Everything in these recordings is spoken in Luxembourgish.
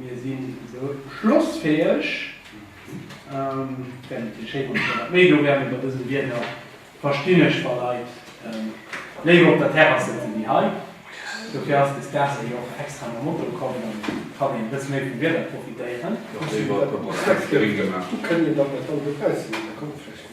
Mir sinn esou schlossfäheg. Méi do wären iwwer dësen Bienner verstinn ech wa Leit léiwer op der Terrass sëtzen wéi hei. Dofir ass des Dag si och extra mam Moto komm, dann kann een e bësse méi vum Wieder profitéieren.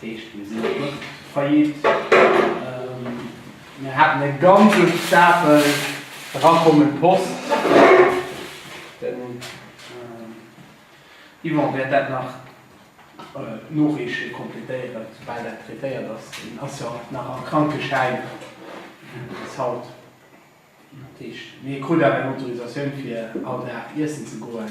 Heescht, mir sinn net faillite. Mir haten e ganze Stapel erakommend Post. Den Yvan wäert dat nach noreeche, completéieren, soubal dat traitéiert ass. Hien ass jo nach am Krankeschäin bis haut. Dat heescht, hie krut awer eng Autorisatioun, fir all Dag iessen ze goen.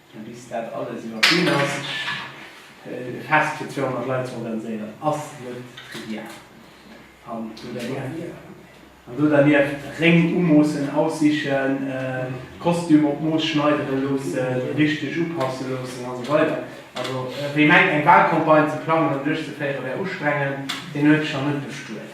Bis dat alles iwwerwunn ass, e Fest fir 200 Leit ze organiséieren, ass net trivial. An do dernieft Réng umoossen, aussichen, Kostüm op d'Mooss schneidere loossen, richteg upasse loossen a sou weider. Also wee mengt eng Walcampagne ze plangen an duerchzeféiere wär ustrengend, deen huet sech nach net bestuet.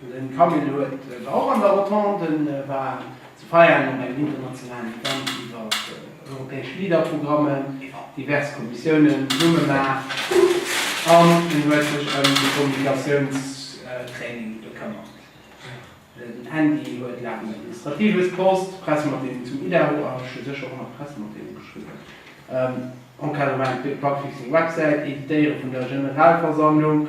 Den Camille huet der och an der Rotonde war ze feiern an engem internationalen Event iwwer europäesch LEADER-Programmen, divers Kommissiounen zesummemaach an en huet sech ëm de Kommunikatiouns-Training bekëmmert. Den Andy huet laang um Administratives post, Pressematteelung zum Idaho a scho sécher och nach Pressematteelung geschriwwen, Encadrement fir d'Bugfixing-Websäit, Editéiere vun der Generalversammlung,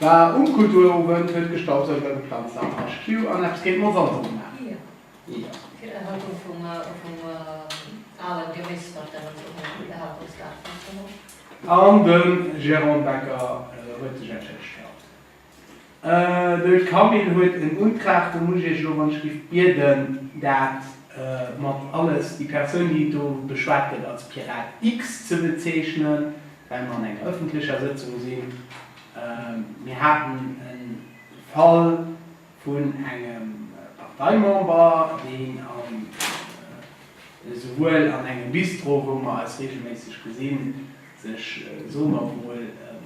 War um Kulturowend, huet gestaubsaugt a geplanzt am HQ an eppes géint Monsanto gemaach. Tierhaltung vum ale Geméis mat dem Tierhaltungsgaart Fürstenhof. An de Jérôme Becker huet sech entschëllegt gehat. De Camille huet en Untrag, do muss ech Iech elo, wann ech géif bieden, dat mat alles, déi Persoun, déi do beschwat gëtt als Pirat X ze bezeechnen, well mer an enger ëffentlecher Sëtzung sinn, mir haten e Fall vun engem Parteimember, deen esouwuel an engem Bistro, wou mer eis reegelméisseg gesinn, sech, soe mer emol,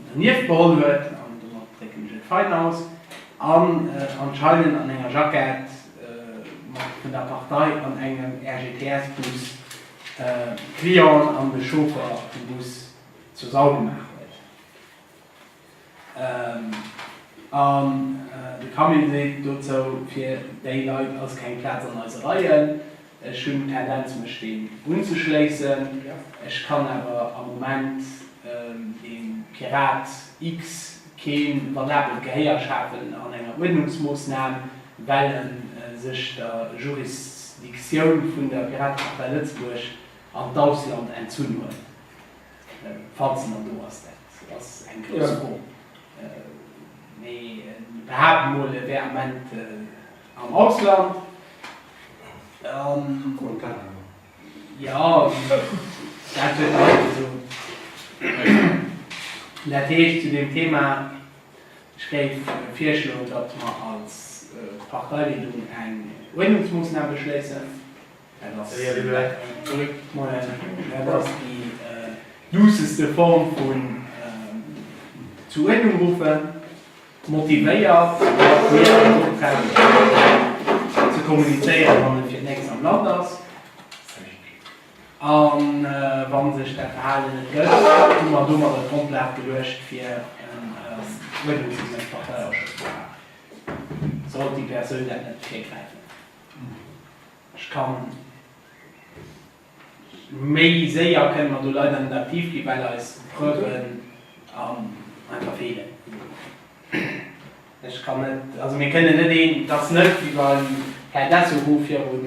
dernieft beholl huet, an domat drécken ech et fein aus, an anscheinend an enger Jackett vun der Partei an engem RGTS-Bus Client an de Chauffer vum Bus zur Sau gemaach huet an de Camille seet dozou, fir déi Leit ass keng Plaz an eise Reien. Ech hunn d'Tendenz mech deem unzeschléissen, ech kann awer am Moment de Pirat X. keen valabelt Gehéier schafen an enger Uerdnungsmoossnam, well e sech der Jurisdictioun vun der Piratepartei Lëtzebuerg an d'Ausland entzunn huet, falls se nach do ass, dat ass eng grouss Fro, mee behaapten emol, e wär am Moment am Ausland. Jo, dat huet e och gesot. Dat heescht, zu deem Thema, ech géif virschloen, datt mer als Parteileedung eng Uerdnungsmoossnam beschléissen. Dat ass déi duusseste Form vun zu Uerdnung ruffen. Motivéiert, mat mir eng gutt Präsentatioun ze kommunizéieren, wann en fir d'nächst am Land ass. A wa sech dat Verhalen net gëtt, hu mer domadder d'Grondlag geluecht, fir en uerdnungsgeméisst Parteiausschëss ze maachen, sollt déi Persoun dat net virkräifen. Ech kann. Méi séier kënnen mer do leider net aktiv gi well eis Preuven einfach feelen. Ech kann net, also mir kënnen net een, et ass net wéi beim Här Dessous wou viru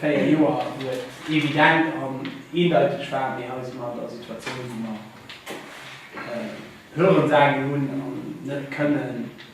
4 Joer wou et evident an eendeiteg war, mee hei si mer an der Situatioun wou mer Hörensagen hunn an net kënnen,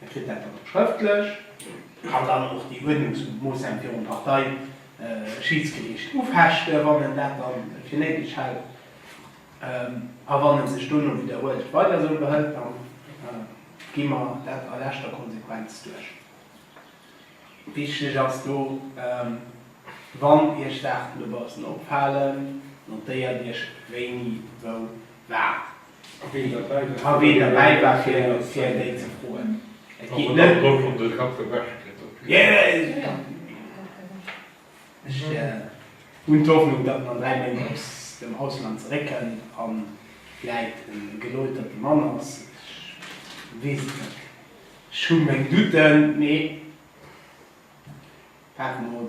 Hie kritt dat dann och schrëftlech, kann dann och déi Uerdnungsmoossnamen virum Parteischiedsgericht ufechten, wann en dat da fir néideg hält. A wann e sech dono widderhuelend weider esou behëlt, da gi mer dat a leschter Konsequenz duerch. Wichteg ass do, Wann Iech Saachen dobaussen opfalen, notéiert Iech, wéini wou wat A wee derbäi war fir déi ze froen. Et geet net drëm. Ech hunn d'Hoffnung, datt mer an 3 Méint aus dem Ausland zeréckkënnen a vläit en gelouterte Mann ass. Ech weess et net. Ech hu meng Douten, mee waarde mer mol.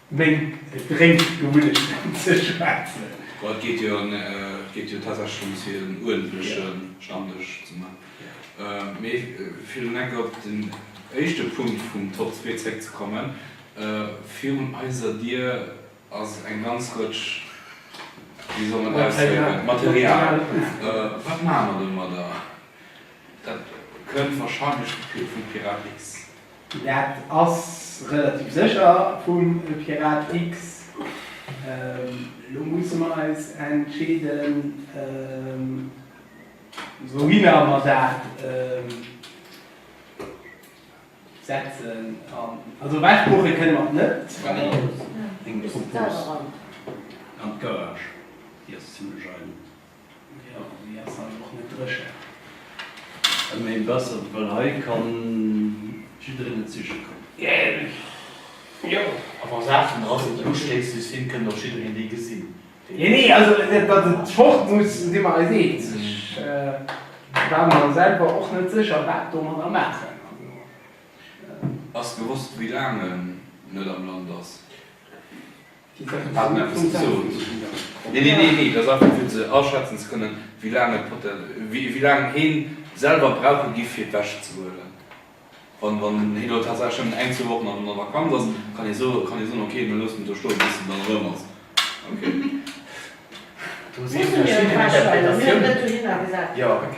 Meng Drénk gewunnecht ze schwätzen. Well et geet jo tatsächlech drëms fir en uerdentleche Stammdësch ze man. Mee villen Dank. Op den éischte Punkt vum Top 2 zréck ze kommen, virun eiser Dier ass eng ganz Rëtsch, wéi soll mer dat ausdrécken, Material. Wat maache mer domadder? Dat kënnt warscheinlech vum Pirat X. Dat ass relativ sécher vum Pirat X. Elo musse mer eis entscheeden, wouhinner mer dat setzen. Also ewechbuche kënne mer et net. Geradeaus. Eng Propose an d'Garage, déi ass zimlech eidel. Jo, mee ass halt och net dréchen. Ëm ee bessert, well hei kann jiddereen net siche kommen. Jo, a wa Saachen dra sinn, déi ustéisseg sinn, kënnt och jiddereen déi gesinn. Déi. Nee, also datt et fort muss, si mer eis eens. Ech war mer selwer och net sécher, wat domadder maachen. Also. Ass gewosst, wéi laang en net am Land ass? Haten eppes gesot. Nee, nee, nee, nee, dat ass einfach fir ze aschätzen ze kënnen, wéi laang et poten-, wéi, wéi laang heen selwer brauche giff fir d'Wäsch ze huelen. Wann, wann heen elo tatsächlech nëmmen eng, zwee Wochen an der Vakanz ass, kann hee soe, kann hee soen, ok, dann loossen do stoen bis en dann erëm ass. Ok. Hu mir en Test, well mir hunn et net dohinner gesat. Jo, ok.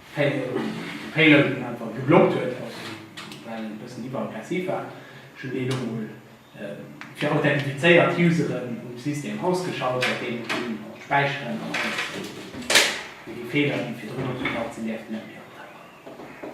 Failen einfach geblockt huet, also well en e bëssen iwwer aggressiv war. Ech hunn deen elo mol fir authentifizéiert Useren um System ausgeschalt, wat deen och hunn, also späicheren an alles an déi Fehler déi virdrun opgetaucht sinn däerften net méi optauchen.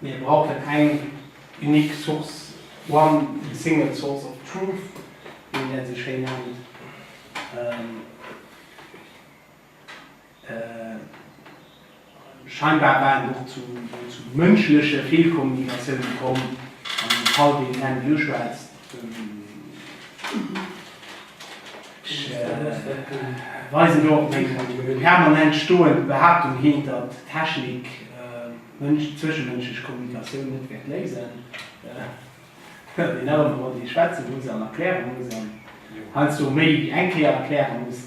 Mir brauchen eng unique source, one single source of truth, wéi een dat esou schéin nennt. Scheinbar war et och zu mënschleche Feelkommunikatioune komm an deem Fall, deen Herrn Dill schwätzt. Ech weisen do op meng permanent stoend Behaaptung hin, datt d'Technik d'zwischemënschlech Kommunikatioun net wäert léisen, well een nach ëmmer mat ee schwätze muss an erkläre muss an heiansdo méi wéi eng Kéier erkläre muss.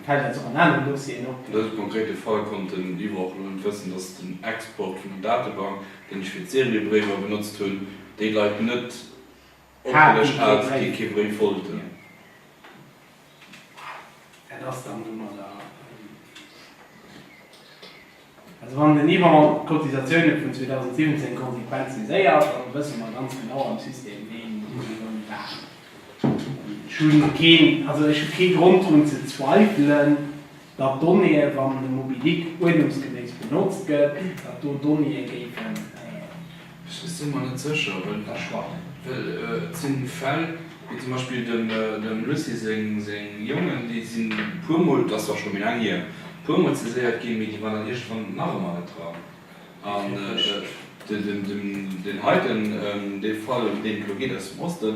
Fält dat och an aneren Dossieren op? An dësem konkrete Fall konnt den Libre och elo net wëssen, dass den Export vun der Datebank, deen ech fir d'Seriebréiwer benotzt hunn, déi Leit net opgelëscht hat, déi kee Bréif wollten. Wat ass dann domadder? Also wann den Yvon d'Cotisatioune vun 2017 konsequent saiséiert, dann wësse mer ganz genau am System ween Millioune waart. Ech hu keen, also ech hu kee Grond drun ze zweifelen, datt d'Donnéeë, wann de Mobilic uerdnungsgeméiss benotzt gëtt, datt do Donnéeë géifen, Ech sinn mer net sécher, wëll ech schwachen. Well et si Fäll, wéi zum Beispill dem Lucy seng Jongen, déi si puermol, dat ass zwar scho méi laang hier, puermol saiséiert ginn, mee déi waren dann iergendwann nach ëmmer net dran. An deen heiten, dee Fall, ëm deen et elo geet aus dem Osten,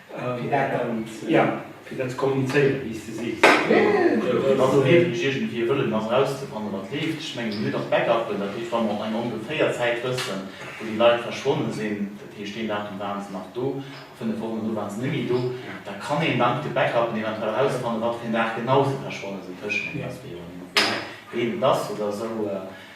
Fir dat dann, jo, fir dat ze kommunizéieren, wéi s de sees. Fir dann do heefeg iergendwéi e Wëllen ass erauszefanne wat leeft. Ech mengen, mir hunn och Backuppen, dat heescht, wa mer op eng ongeféier Zäit wëssen, wou déi Leit verschwonne sinn, dat heescht, deen Datum ware se nach do a fënnef Wochen dono ware se nëmme do, da kann een dank de Backuppen eventuell erausfanne wat fir en Dag genau se verschwonne sinn. D'Hëschmeng ass, wéi och ëmmer, wéi heem et ass oder esou.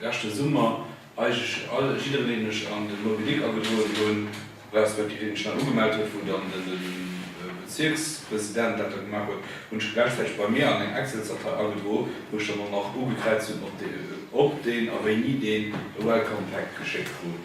leschte Summer eigentlech all, jiddereen, deen ech an de Moby-Dick agedroen hunn, respektiv deen ech nach ugemellt huet, wou dann de Bezierkspresident dat da gemaach huet, hunn ech gläichzäiteg bei mir an eng Excelsdatei agedro, wou ech dann och nach ugekräizt hunn, ob deen a wéini deen e Welcome Pack geschéckt krut.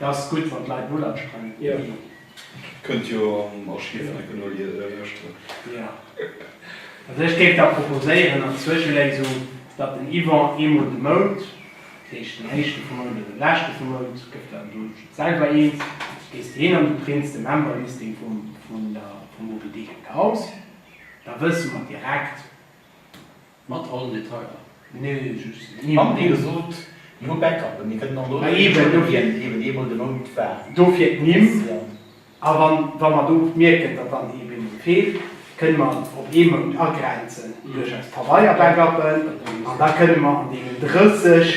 Ass gudd wann d'Leit null ansprengen. Kënnt jo am Archiv enke no lueschteren. Jo. Also ech géif da proposéieren als Zwëscheléisung, datt den Yvan eemol de Mount, dat heescht den éischte vum Mount oder den leschte vum Mount, gëff der em do selwer eent, gees de hien an du prints de Memberlisting vum vun der vum Moby Dick eraus, da wësse mer direkt. Mat allen Detailer? Nee, just eenmaal. Mam Deel gesot, mir hu Backup, mir kënnen dann dono iwwer den Mount ginn. Eben, eemol de Mount war. Dofir d'Nimm. A wann, wa mer do mierken, datt dann ee Bemol feelt, kënnen mer et op ee Mount agrenzen duerch eis Pabeier-Backuppen an da kënnen mer an deenen 30.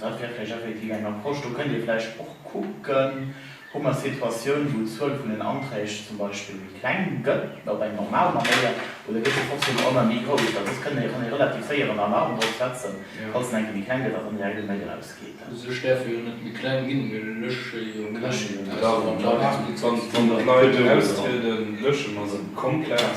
Dat wär vläicht effektiv eng Approche. Do kënnt Dir vläicht och kucken, Hu mer Situatiounen, wou d'Zuel vun den Anträg zum Beispill méi kleng gëtt, op eng normal Manéier, oder gëtt se trotzdeem ëmmer méi grouss? Well soss kann ee relativ séier en Alarm drop setzen, Falls en eng Kéier méi kleng gëtt, datt en direkt e Mail erausgeet. Sech däerf e jo net méi kleng ginn. Mir lësche jo keng Aussenaufnahmen. Wann der Leit austrieden, lësche mer se komplett.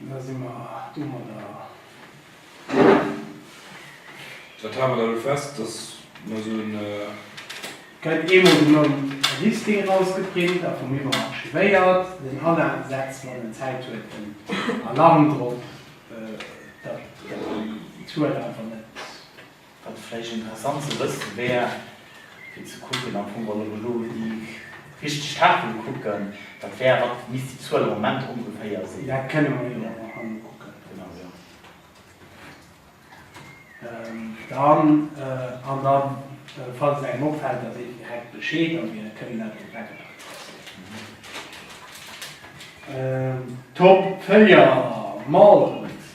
Da si mer domadder. Dat hale mer da elo fest, dass mer esou en. Gëtt eemol den Nom a Listing erausgeprint a vum Yvon archivéiert. Den Alain setzt, wann en Zäit huet, en Alarm drop, datt d'Zuel einfach net. Wat vläicht interessant ze wësse wär, fir ze kucken am Fong, wann ech elo déi richteg Tafele kucken, dat wär, wat misst déi Zuel am Moment ongeféier sinn? Dat kënne mer jo awer hei mol kucken. Genau, jo. Dann, an da falls et engem opfält, da seet en direkt Bescheed a mir kënnen dat do weglafen lassen. Top Feuillants, Molles.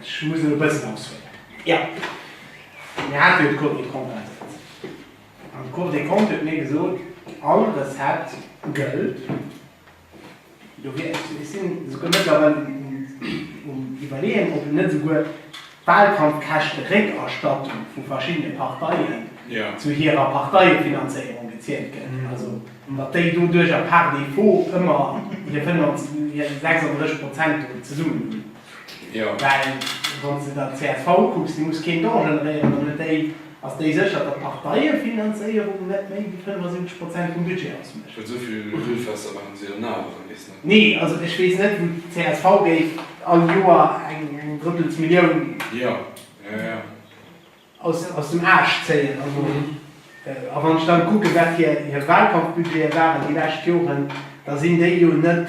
Ech muss elo bëssen aushuelen. Jo, mir hate jo de Cours des comptes ausgehandelt. An de Cours des comptes huet mir gesot, all Recette gëllt. Ech sinn esouguer mëttlerweil um Iwwerleeën, ob een net esouguer bal kann d'Käschteréckerstattung vu verschiddene Parteien zu hirer Parteiefinanzéierung gezielt gëtt. Also datt déi doduerjer par défaut ëmmer hir 36 Prozent do zesummen hunn. Well wann s de der csv kucks, déi muss keen Don generéieren, dann huet déi, ass déi sécher, datt d'Parteiefinanzéierung net méi wéi 75 Prozent vum Budget ausmécht. Well souvill Grillfester maachen si an awer Saache nees net. Nee, also ech weess net, wou d'csv géif all Joer eng drëttels Millioun aus dem Aarsch zéien. A wann ech dann kucken, wat fir hir Wahlkampfbudgete waren déi lescht Joren, da sinn déi jo net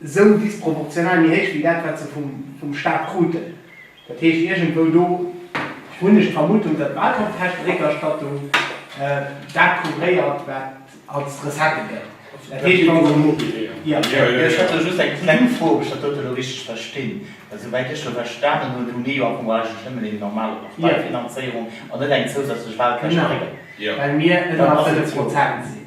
esou disproportional méi héich wéi dat, wat se vum Staat kruten. Dat heescht, iergendwou do hunn ech d'Vermutung, datt d'Wahlkampfkäschteréckerstattung dat couvréiert, wat als Recettë gëtt. Dat heescht, wa se. Ech hätt do just eng kleng Fro, ob ech dat dote elo richteg verstinn. Well souwäit ech elo verstanen hunn, hu mir jo am Fong eigentlech nëmmen eng normal Parteifinanzéierung an net eng zousätzlech Wahlkäschteréckerstattung. Genau, well mir ënner fënnef Prozent sinn.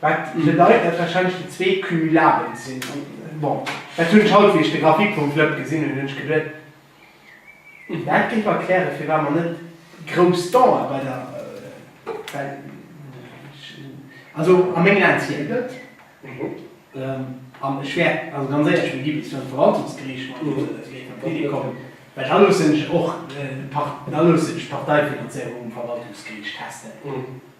Wat bedeit, dat wahrscheinlech déi zwee cumulabel sinn. Bon, dat hunn ech haut, wéi ech de Graphique vum Flëpp gesinn hunn, hunn ech geduet, hm, dat géif erklären, firwat mer net grouss Danger bei der, well, also a mengen Aen zielt net, an ech wäer also ganz éierlech, mir gi bis virum Verwaltungsgeriicht mat géifen op d'Iddi kommen, well da loossen ech och, da loossen ech d'Parteifinanzéierung um Verwaltungsgeriicht testen.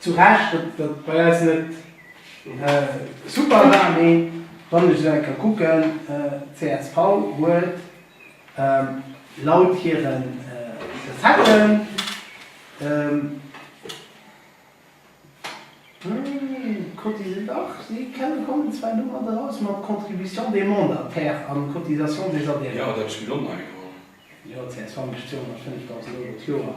Zu Recht, datt datt bei eis net super war, mee wann ech esou eng Kéier kucken, csv huet laut hiren Recetten, cotisé, dach si kommen zwar domat eraus mat Contribution des mandataires a Cotisation des adhérents. Jo, dat ass mir och nach egal. Jo, csv mécht 205.000 Euro d'Joer.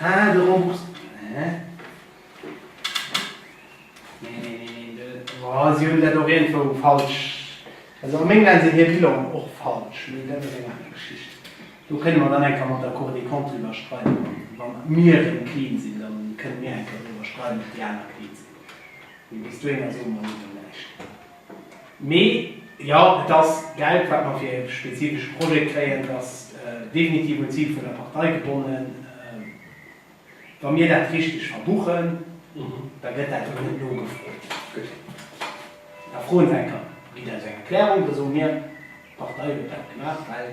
Ah, de Remboursement, hä? Neen, neen, neen, neen. Oh, si hunn dat och iergendwou falsch. Also a mengem Leit sinn hir Bilanen och falsch, mee dat ass eng aner Geschicht. Do kënne mer dann eng Kéier mat der Cour des Comptes driwwer schreiwen. Wa mir erëm clean sinn, da kënne mir eng Kéier driwwer schreiwen, ob déi aner clean sinn. Mee bis dohinner soe mer Iech dann näischt. Mee jo, et ass Geld, wat mer fir e spezifesche Projet kréien. Et ass definitiv un d'Zil vun der Partei gebonnen. Wa mir dat richteg verbuchen, da gëtt dat och net nogefrot. Gutt, da froen se eng Kéier, ginn eis eng Erklärung, da soe mir, d'Partei huet dat gemaach, well.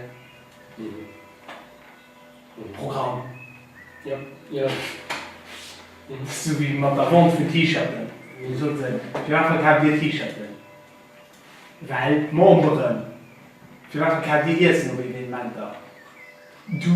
Um Programm, jo, jo, sou wéi mat der Vente vun T-Shirten, wou sot se, firwat verkaaft Dir T-Shirten? Well d'Memberen. Firwat verkaaft Dir Iessen op Evenementer? Du.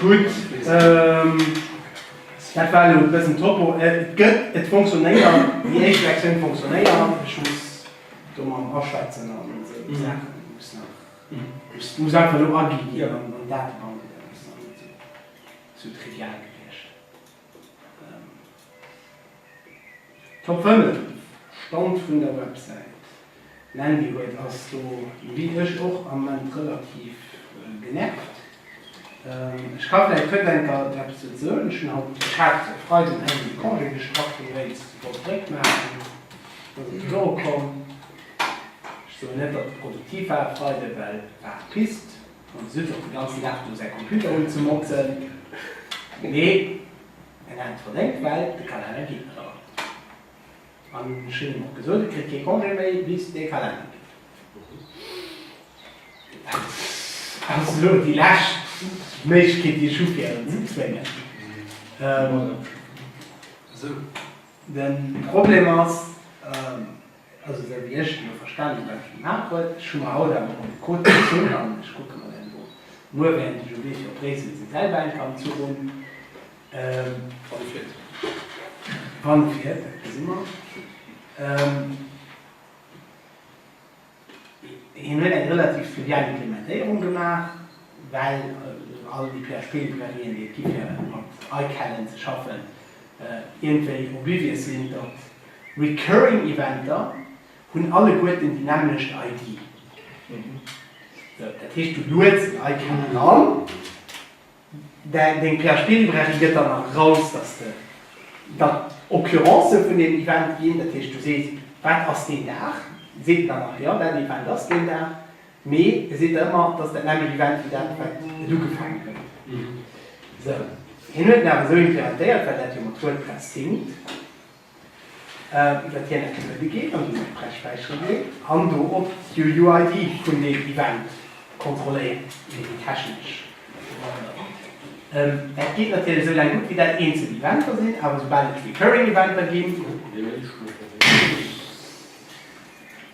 Gutt, dat war elo e bëssen Topo. Et gëtt, et fonctionéiert, déi éischt Versioun fonctionéiert. Ech muss do mam aschwätzen an esou Saachen, muss nach, muss einfach elo aginn an Datebanken, dat ass dann net esou trivial gewiescht. Top 5 Stand vun der Websäit, Mandy huet ass do wéi ech och am Moment relativ genervt. Ech ka vläit Virdenker eppes dozou soen, ech hunn haut, ech hat e Freiden eng Méint Congé geschafft fir déi Réis sofort zréck maachen ass et dokomm. Ech soen net datt et produktiv war e Freide well war Pist. An Sylvie hat den ganzen Dag do säi Computer unzemotzen, mee en hat et verdéngt, well de Kalenner geet nach ëmmer. An ech hunn him och gesot, e kritt kee Congé méi, bis dee Kalenner geet. Dat ass elo déi lescht Méiglechkeet, déi ech hu fir en ze zwéngen. Den Problem ass. Also wéi ech et elo verstanen hu wat Dir gemaach hutt, ech hu mer haut awer mol de Code gezunn an ech kucke mer deen elo muer wärend ech um Wee fir op Bréissel sinn, selwer eng Kand zu hunn. Wann e fiert, dat gesi mer. Hien huet eng relativ fluvial Implementéierung gemaach, well all déi PHP-Librairie déi et gi fir mat iCalend ze schaffen, iergendwéi oblivious sinn, datt Recurring Eventer hunn alleguerten déi nämmlecht ID. Dat heescht, du lueds en Icon eran, deng PHP-Librairie gëtt dann eraus, dass de dann Occurrencë vun deem Event ginn. Dat heescht, du sees, wat ass deen Dag, seet en dann nach, jo, dat Event ass deen Dag, mee e seet der ëmmer, et ass dat nämmlecht Event wéi dat, wat et ugefaangen huet. Hien huet en awer esou implementéiert, well dat jo mat WordPress hinkt, iwwert hir Methode geet an déi sech d'Brechwäiche leet an do och d'UUID vun deem Event kontrolléiert, iwwer déi technesch Manner. Dat geet natierlech esou laang gutt, wéi dat eenzel Eventer sinn, awer soubal et recurring Eventer ginn,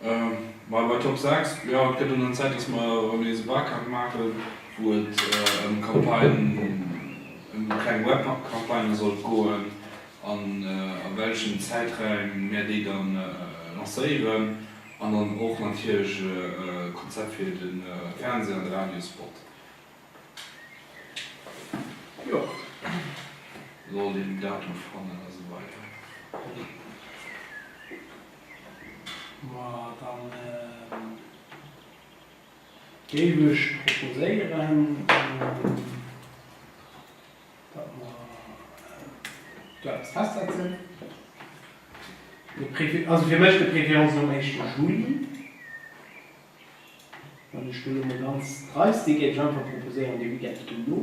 Bei bei Top 6 jo et gëtt un an Zäit dass mer erëm nees e Barcamp maachen wou et ëm d'Campagne ëm déi kleng Web Campagnë sollt goen an a welchen Zäiträim mär déi dann lancéieren an dann och natierlech e Konzept fir de Fernseh an de Radio Spot jo soll een Datum fannen a sou weider. Ma dann géif ech proposéieren, datt mer do eppes festsetzen. Also fir mech de préférence nom éischte Juli. Wann ech do elo mol ganz dreist si géif ech einfach proposéieren, de Weekend dono.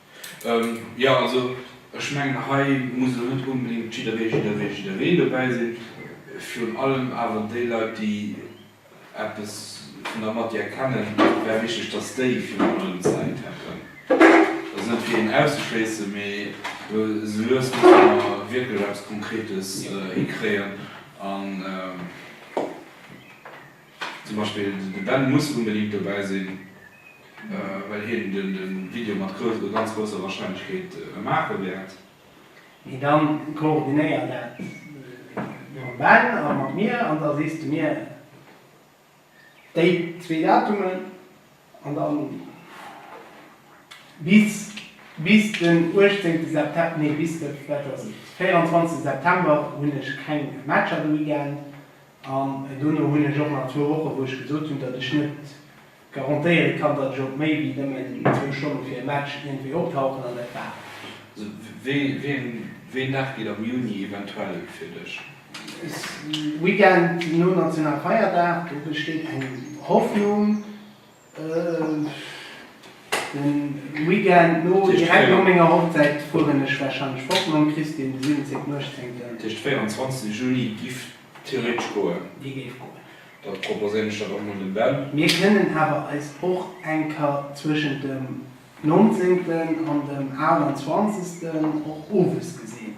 Jo, also ech mengen, hei muss elo net onbedéngt jidderee, jidderwee, jidderwee dobäi sinn. Virun allem awer déi Leit, déi eppes vun der Matière kennen, wär wichteg, dass déi virun allem Zäit hätten. Dat ass net fir een auszeschléissen, mee elo esou lues musse mer wierklech eppes Konkretes hikréien. Zum Beispill de Ben muss unbedingt dobäi sinn, well hien de Video mat ganz grousser Warscheinlechkeet maache wäert. Mee dann koordinéier dat mam Ben a mat mir an da sees de mir déi zwee Datumen. An dann bis bis den 18 September, nee bis de, wat ass et, 24 September hunn ech keng Matcher de Weekend. An dono hunn ech och nach zwou Wochen, wou ech gesot hunn, datt ech net garantéiere kann, datt ech op méi wéi nëmmen zwou Stonne fir e Match iergendwéi optauchen. An dat war et. Wéi eng Dag geet am Juni eventuell fir dech? Weekend nom nationale Feierdag, do besteet eng Hoffnung, de Weekend no, direkt no menger Hochzäit fueren ech warscheinlech fort mam Christine, de 17., 18. Dat heescht 24 Juni giff theoretesch goen. Dee géif goen. Da proposéieren ech dat och mol dem Ben. Mir kënnen awer eis och eng Kéier zwëschent dem 19. an dem 28. och owes gesinn.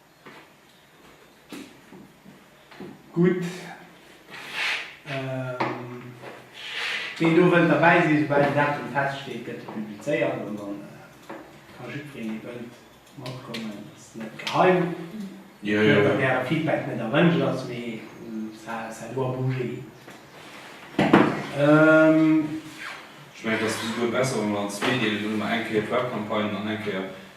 Gutt. Ween do wëllt derbäi sinn, esoubal den Datum feststeet, gëtt e publizéiert an dann ka jiddwereen, dee wëllt, matkommen. Dat ass net geheim. Mir hunn der gäre Feedback, net erwënscht ass, mee ça doit bouger. Ech mengen, et ass bis elo besser, wa mer an zwee deelen, do hu mer eng Kéier d'Webcampagne an eng Kéier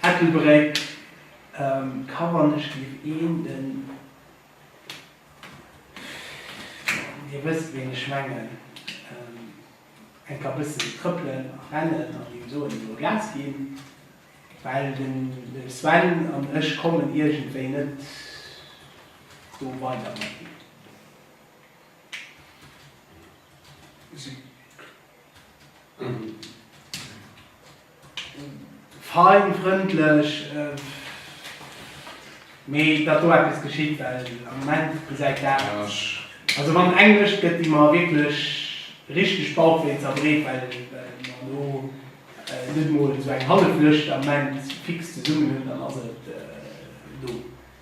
Ettelbréck, Ka wann ech géif een den, Dir wësst ween ech mengen, eng ka bëssen trëppelen a rennen an him soen, ech wëll Gas ginn, well den Sven an ech kommen iergendwéi net do weider mat him. Cycle, Fein, frëndlech, mee et ass do eppes geschitt, well am Moment gesäit dat, also wann eng Lëscht gëtt, déi mer wierklech richteg Bauchwéi zerbreet, well mer elo net emol esou eng hallef Lëscht am Moment fix zesummen hunn, dann ass et elo.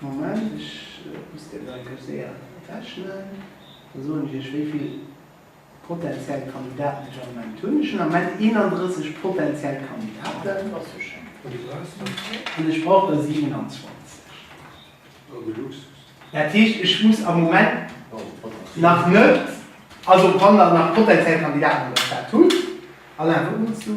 Moment, ech muss déi Leit gleich séier rechnen. Da soen ech iech, wéi vill potentiell Kandidaten ech am Moment hunn. Ech hunn am Moment 31 potentiell Kandidaten. An ech brauch der 27. Dat heescht, ech muss am Moment nach net, also wann der nach potentiell Kandidaten oder dat hutt, Alain, wat mierks du?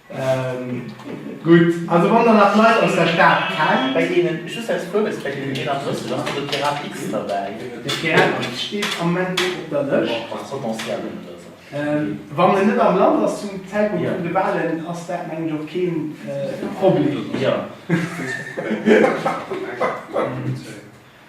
Gutt, also wann der nach Leit aus der Stad kennt, bei deenen, just aus Fuerwesgréck, den 31 ass, do ass de Pirat X derbäi. De Pirat X steet am Moment net op der Lëscht. Ass potentiel net oder esou. Wann en net am Land ass zum Zäitpunkt vun de Wahlen, ass dat mengen ech och keen Problem. Jo.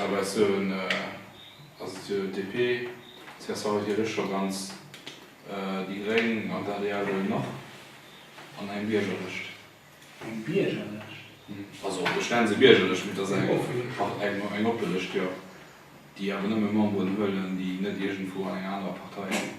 Awer ech soen, ass et jo DP, csv huet jo lech scho ganz, déi Gréng an d'adr wuel och, an eng Biergerlëscht. Eng Biergerlëscht? Also ech nenne se Biergerlëscht, mee et ass eng oppe Lëscht. Ach, eng oppe Lëscht, jo, déi awer nëmme Memberen huelen, déi net iergendwou an enger anerer Partei sinn.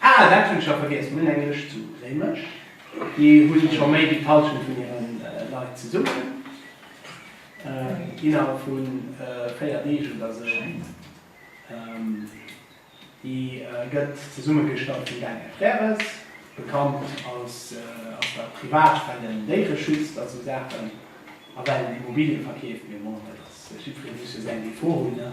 Ah, dat hunn ech jo vergiess, mir hunn eng Lëscht zu Réimech. Déi hunn ech scho méi wéi d'Halschent vun hire Leit zesummen. Innerhalb vu véier Deeg oder esou schéngt. Déi gëtt zesummegestallt vum Daniel Frères, bekannt aus der Privat well en Déiere schützt a sou Saachen a well en Immobilien verkeeft. Mee bon, dat ass, ech iwwregens muss jo säin Depot hunn, ne?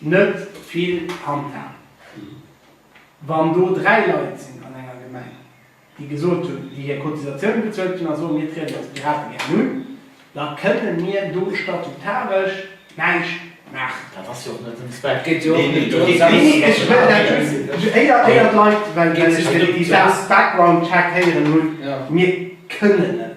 Net vill Handhab. Wann do dräi Leit sinn an enger Gemeng, déi gesot hunn, déi hir Cotisatioune bezuelt hunn a soen, mir trieden als Pirate gären un, da kënne mir do statutaresch näischt maachen. Dat ass jo och net den Zweck. Et geet jo och net dorëms, dass ech dat schwätze. Neen, neen, ech wëll dat just éier, éier d'Leit, well ech den Background-Check héieren hunn, mir kënnen net.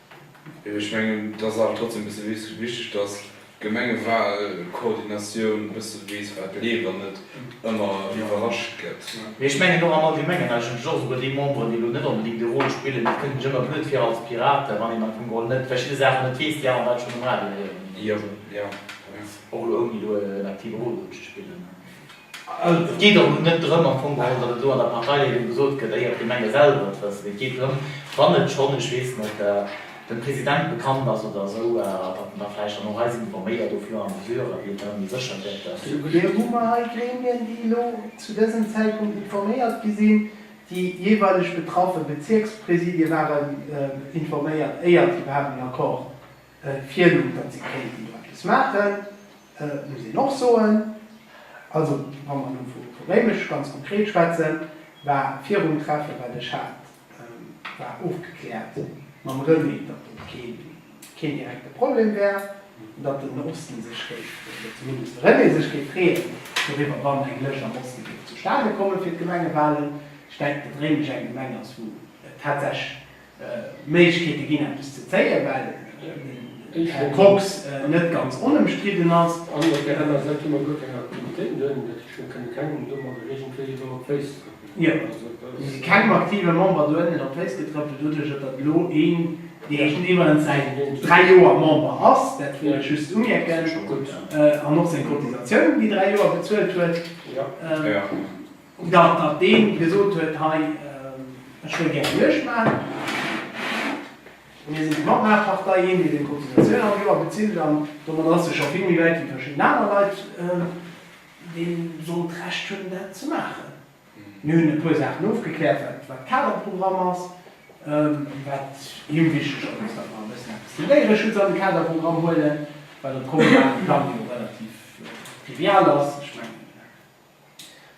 Ech mengen, et ass awer trotzdem e bësse wichteg, dass d'Gemengewahlkoordinatioun e bësse weess, wat leeft an net ëmmer iwwerrascht gëtt. Mee ech mengen och am Allgemengen, eigentlech och esouguer déi Memberen, déi elo net onbedéngt déi Rôle spillen, et kënnt mech ëmmer blöd vir als Piraten, wann een am Fong geholl net verschidde Saachen net weess, déi aner Leit schonn um Radio héieren, och elo ouni elo en aktive Rôle dru ze spillen. Et geet och net drëm am Fong geholl, datt et elo an der Parteileedung gesot gëtt, éier d'Gemenge selwer et wëssen. Et geet drëm, wann et schonn, ech weess net, dem President bekannt ass oder esou, datt en da vläicht dann och eis informéiert, au fur et à mesure, wéi et dann ëmmer sécher gëtt, datt. Dofir hu mer hei Gremien, déi elo zu dësem Zäitpunkt informéiert gi sinn. Déi jeeweileg betraffe Bezierkspräsidie waren informéiert, éier se iwwerhaapt en Accord. Virloof, datt si kéinten do eppes maachen, muss een och soen. Also wa mer elo vu Réimech ganz konkret schwätzen, war virum Treffe wat ech hat, war ofgekläert mam René, datt et keen direkte Problem wär, datt den Osten sech géif, oder zumindest de René sech géif freeën doriwwer, wann eng Lëscht am Oste géif zustane kommen fir d'Gemengewalen. Ech denken, datt Réimech eng Gemeng ass, wou tatsächlech Méiglechkeete ginn eppes ze zéien, well den Här Kox net ganz onëmstridden ass. An op där aner Säit hu mer guer keng Aktivitéiten doheem, dat heescht mir kënne kengem domat eréigendwéi iwwer op d'Féiss trëppelen. Jo, mir si kengem aktive Member dohennen op d'Féiss getrëppelt doduerch, datt et elo een, dee scho iwwerens säit dräi Joer Member ass, dat wëll ech just umierken, an och seng Cotisatiounen déi dräi Joer bezuelt huet. Jo, nach deen déi gesot huet hei ech wëll gären Juegd maachen. Mir sinn déi Matmaachpartei, een deen seng Cotisatioun all Joer bezilt an domadder ass e scho vill méi wäit wéi verschidden aner Leit déi sollt d'Recht hunn dat ze maachen. Mir hunn e puer Saachen ofgekläert wat wat Kaderprogramm ass, wat him wichteg ass ass dat mer e bëssen eppes dem Déiereschutz an de Kaderprogramm huelen, wat am kommunalen Plang jo relativ trivial ass. Ech mengen.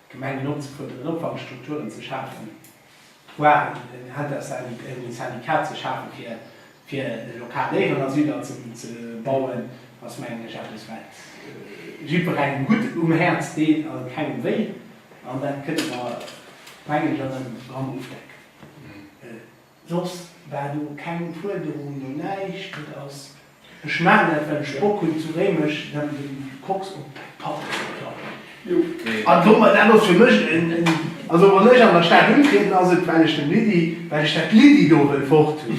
D'Gemengen opzefërderen an Opfankstrukturen ze schafen, voire en Intersyndicat ze schafen, fir lokal Léieren a Südatzen ze bauen, ass mengen ech eppes, wat jiddwerengem gutt um Häerz deet a kengem wéi. An dat kënne mer, mengen ech, an engem Programm ofdecken. Soss war do keng Fuerderung, no näischt. Et ass, ech maachen dat, well ech Bock hunn, zu Réimech erëm de Koks op d'Patt ze klappen. An domat, dat ass fir mech en, also wann ech an der Stad untrieden, ass et, well ech dem Lydie, well ech dat Lydie do wëll fort hunn.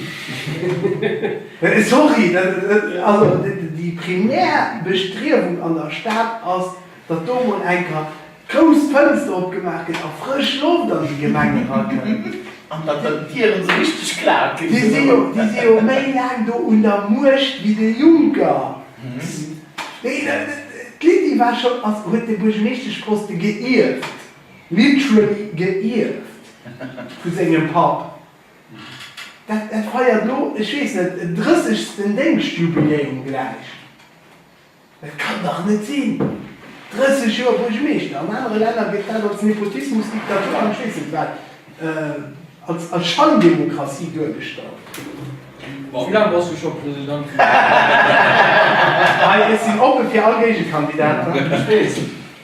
Sorry, dat, also déi primär Bestriewung an der Stad ass, datt do emol enker, Grouss Fënster opgemaach gëtt a frësch Loft an déi Gemeng erakënnt. An datt dann d'Dieren esou richteg klaak ginn. Déi si jo, déi si jo méi laang do un der Muecht wéi de Juncker. Mee d'Lydie war schonn, ass, huet de Buergermeeschteschposte geierft, literally geierft, vu sengem Papp. Dat feiert elo, ech weess net, en drëssegsten Déngschtjubiläum gläich. Et kann dach net sinn! 30 Joer Buergermeeschter, an anere Länner gëtt dat als Nepotismus, Diktatur an ech weess net wat, als Schandemokratie duergestallt. Ma wéi laang bass du scho President vun der Gemeng? Ech sinn oppe fir all Géigekandidater.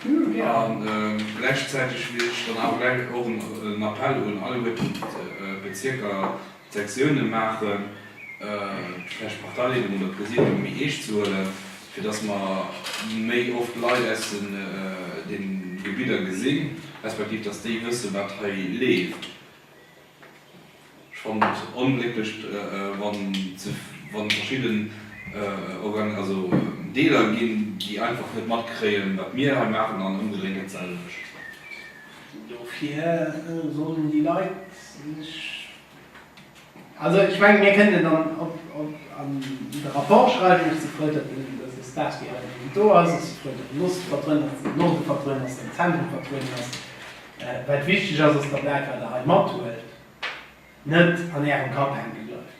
A gläichzäiteg wëll ech dann awer gläich och en Appell un alleguer d'Bezierker, d'Sektiounen maachen, vläicht d'Parteileedung oder d'Presidium méi eescht ze huelen, fir dass mer méi oft Leit aus de Gebidder gesinn, respektiv dass déi wëssen, wat hei leeft. Ech fannen et onglécklech, wann verschidden Deeler ginn, déi einfach net matkréien, wat mir hei maachen, an ëmgedréint dat selwecht. Dofir sollen déi Leit sech, also ech mengen, mir kënnen dann an de Rapport schreiwen, ech si frou, datt dës Espace wéi hei do ass, ech si frou, datt Lostverdrënners den Norden verdrënners, den Zentrum verdrënners, Wat wichteg ass, ass, datt dat, wat Der hei mathuelt, net an Ärem Kapp hänke bleift,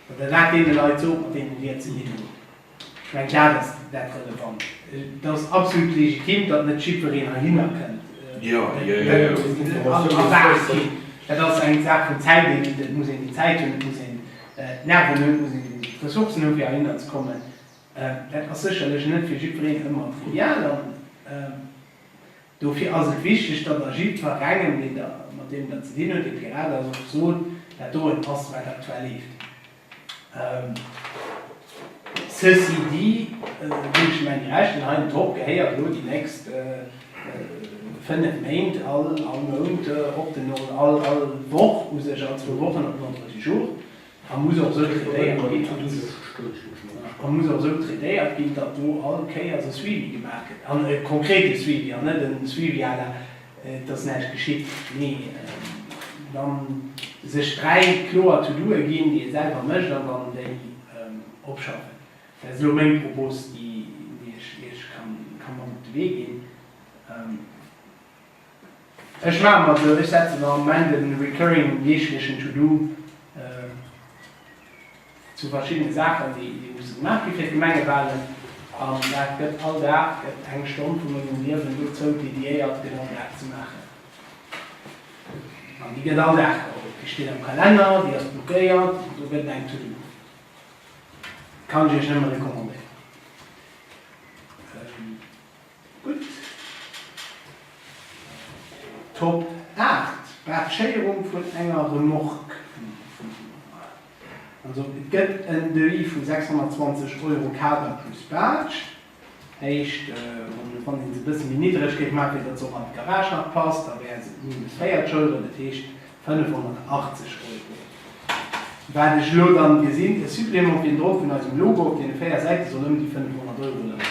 datt Der dat deene Leit sot, mat deenen Dir et ze dinn hutt. Ech mengen, dat ass dat Relevant. Et ass absolut legitim, datt net jiddwereen heihinner kënnt, a erwaart ginn. Dat ass eng Saach vun Zäit. Et muss een déi Zäit hunn, et muss een d'Nerven hunn, et muss een d'Ressourcen hunn, fir heihinner ze kommen. Dat ass sécherlech net fir jiddwereen ëmmer ideal. Dofir ass et wichteg, datt a jiddferengem, deen Der mat deem Der ze dinn hutt, dee Pirat ass, och sot, wat doran passt, wat aktuell leeft. Ceci dit, ginn ech Ihnen eng Recht, wann hei den Drock gehéiert, elo déi nächst fënnef Méint, all Mount op den, all Woch u sech, all zwou Wochen op den Ordre du jour, A muss och esou traitéiert ginn, datt do all Kéiers e Suivi gemaach gëtt, an e konkrete Suivi, an net e Suivi à la et ass näischt geschitt, mee dann sech dräi kloer To-doe ginn, déi ee selwer mécht, an dann déi opschaffen. Dat ass elo meng Propos, déi ech Iech ka mat op de Wee ginn. Ech maache mer esou, ech setze mer am Moment e recurring deeglechen To-Do zu verschiddene Saachen, déi musse gemaach gi fir d'Gemengewahlen, an dat gëtt all Dag, gëtt eng Stonn vu mengem Liewen dozou dédiéiert, genau dat ze maachen. An déi gëtt all Dag geholl, déi steet am Kalenner, déi ass blockéiert, do gëtt et eng To-Do. Kann ech Iech nëmme recommandéieren. Gutt. Top 8, Bartschéierung vun enger Remorque. Also et gëtt en Devis vu 620 Euro Kader plus Baartsch. Heescht, wann ee se e bësse méi niddreg géif maachen, fir datt se och an d'Garage nach passt, da wäre se minus 4 d'Schouder, dat heescht 580 Euro. Wat ech elo dann gesinn, e Supplément obendrauf vun eisem Logo op deene 4 Säite soll ëm déi 500 Euro leien.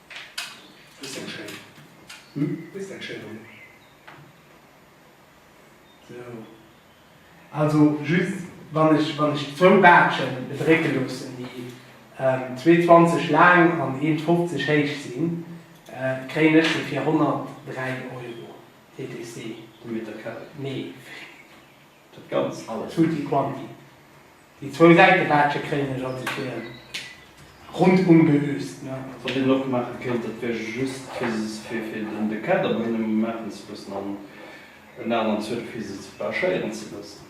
Dëst eng schéin. Hm? Dëst eng schéin Roll. Sou. Also just wann ech wann ech zwou Baatschen bedrécke loossen déi zwee 20 laang an eent 50 héich sinn, kréien ech se fir 103 Euro TTC. De Meter carré? Nee. Dat ganz alles, tutti quanti. Déi zwou Säitewäertche kréien ech als ech hir rundum geöst, ne. Also. Wat een och maache kéint, dat wär just fir se, fir de Kader bei hinnen maachen ze loossen an en aneren Zuel fir se ze verachéieren ze loossen.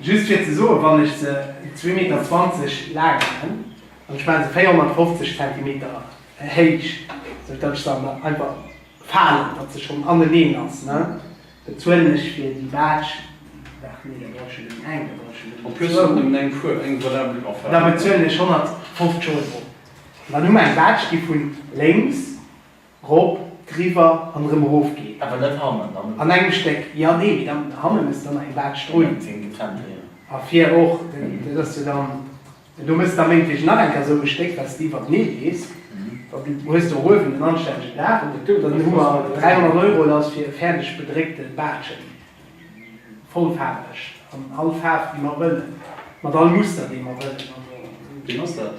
Just fir ze soen, wann ech se zwee Meter zwanzeg laang maan, an ech maan se 450 Zentimeter héich, sou datt ech se an der einfach faalen, datt se schonn aneneen ass, ne, bezuelen ech fir déi Baatsch, waart, nee, da brauch ech jo nëmmen eng, da brauch ech jo nëmmen zwou, da bezuelen ech 150 Euro. An dann hu mer eng Baatsch, déi vun lénks. Rop, driwwer an erëm erof geet. Awer net hannen an. An engem Stéck. Jo, nee, mee dann hannen ass dann nach eng Baatsch drun. Meng sinn getrennt, jo, jo. A vir och. Dat ass jo dann. Do muss da méngleech nach eng Kéier esou e Stéck, wat s de iwwertenee lees. Dann hues de och uewen en anstännegen Daach. An dann hu mer 300 Euro lass fir fäerdeg bedréckte Baatschen. Vollfaarweg. An all Faarf, déi mer wëllen. Mat all Muster, dee mer wëllen. Also. Wien ass dat?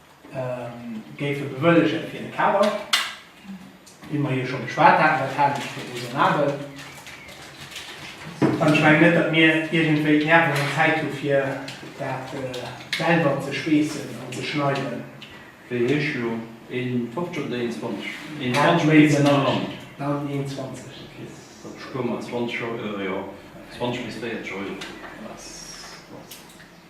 géife bewëllegen fir de Kader, wéi mer jo scho geschwat haten. Dat halen ech fir räsonabel. An ech mengen net, datt mir iergendwéi d'Nerven an d'Zäit hu fir dat selwer ze schweessen an ze schneiden. Wéi héich elo? Een 50 oder een 20? Een 20 méi wéi den am Land. Dann een 20. Okay, da spuere mer 20 Euro, jo, 20 bis 40 Euro.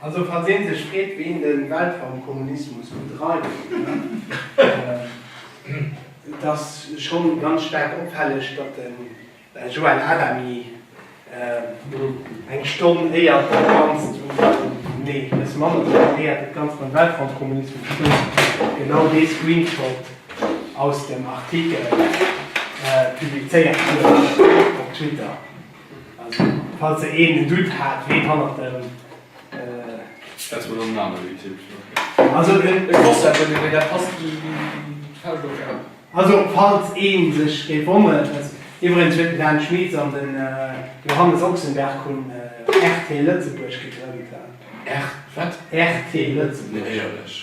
Also falls een sech freet ween den Weltraumkommunismus bedreift, et ass schon ganz staark opfälleg datt den Joël Adami eng Stonn éier d'Vakanz zu nee bessen manner preparéiert dat ganzt mam Weltraumkommunismus stëmmt, genau dee Screenshot aus dem Artikel publizéiert huet op Twitter. Falls der een en Doute hat ween hannert dem. Also falls een sech géif wonneren. Iwwregens huet den Dan Schmieds an den Johannes Ochsenberg hunn RT Lëtzebuerg gegrënnt. RT Lëtzebuerg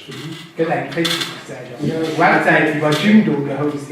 gëtt eng Facebook Säit an Websäit iwwer Jimdo gehost.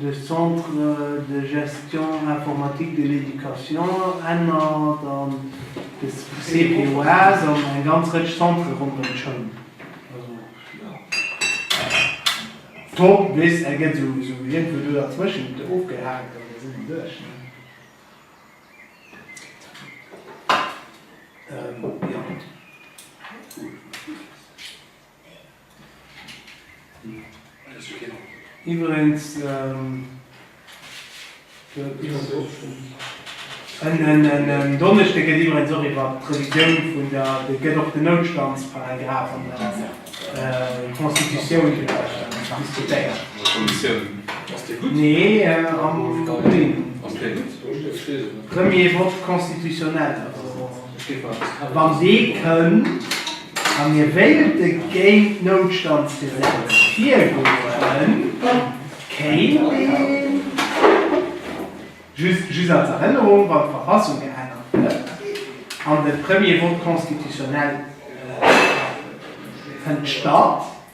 De Centre de gestion informatique de l'éducation ennert an de CPOAS an eng ganz Rëtsch Centre rondrëm d'Schoul. Also jo, top bis e gëtt esou iergendwou do derzwëschent ofgehaakt an da si mer duerch ne. Jo. Iwwerens en Donneschde gëtt iwwerens och iwwer d'Revisioun vun der, et gëtt och den Noutstandsparagraf an der Constitutioun diskutéiert. Nee, am Juni. Premier vote constitutionnel. Wann dee kënnt a mir wéilte géint d'Noutstandsgesetz virgoen, kéint een, just als Erënnerung, wann d'Verfassung geännert gëtt an de Premier vote constitutionnel fënnt statt,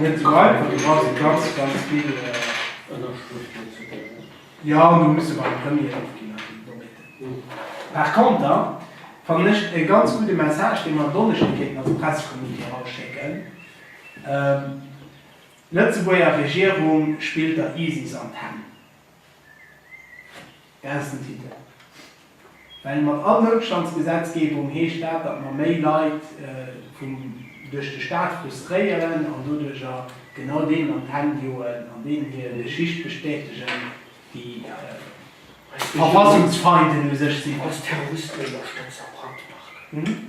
Net sou einfach, do brauch se ganz, ganz vill Ënnerschrëften fir ze goen. Jo, do muss se beim Premier ofginn a fir d'Nobeten. Par conter fannen ech e ganz gudde Message, dee mer en Donneschde kéinten als Pressecommuniqué erausschécken, D'Lëtzebuerger Regierung spillt der ISIS an d'Hänn. Groussen Titel. Well mat all Noutstandsgesetzgebung heescht dat, datt mer méi Leit vum duerch de Staat frustréieren an doduercher genau deenen an d'Hänn joen an deenen hir Geschicht bestätegen, déi Verfassungsfeinden u sech sinn. Als Terroristen ënnerstëtzt a Brandmarken.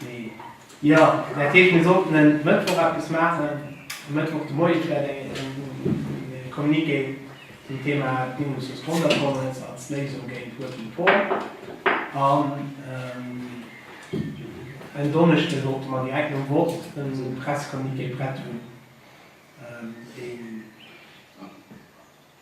Nee. Jo, dat heescht mir sollten en Mëttwoch eppes maachen, e Mëttwoch de Moie vläicht e Communiqué zum Thema Bindung zur Sponsorkonvenz als Léisung géint Working Poor. An en Donneschde sollte mer direkt nom Vott e Pressecommuniqué prett hunn, deen.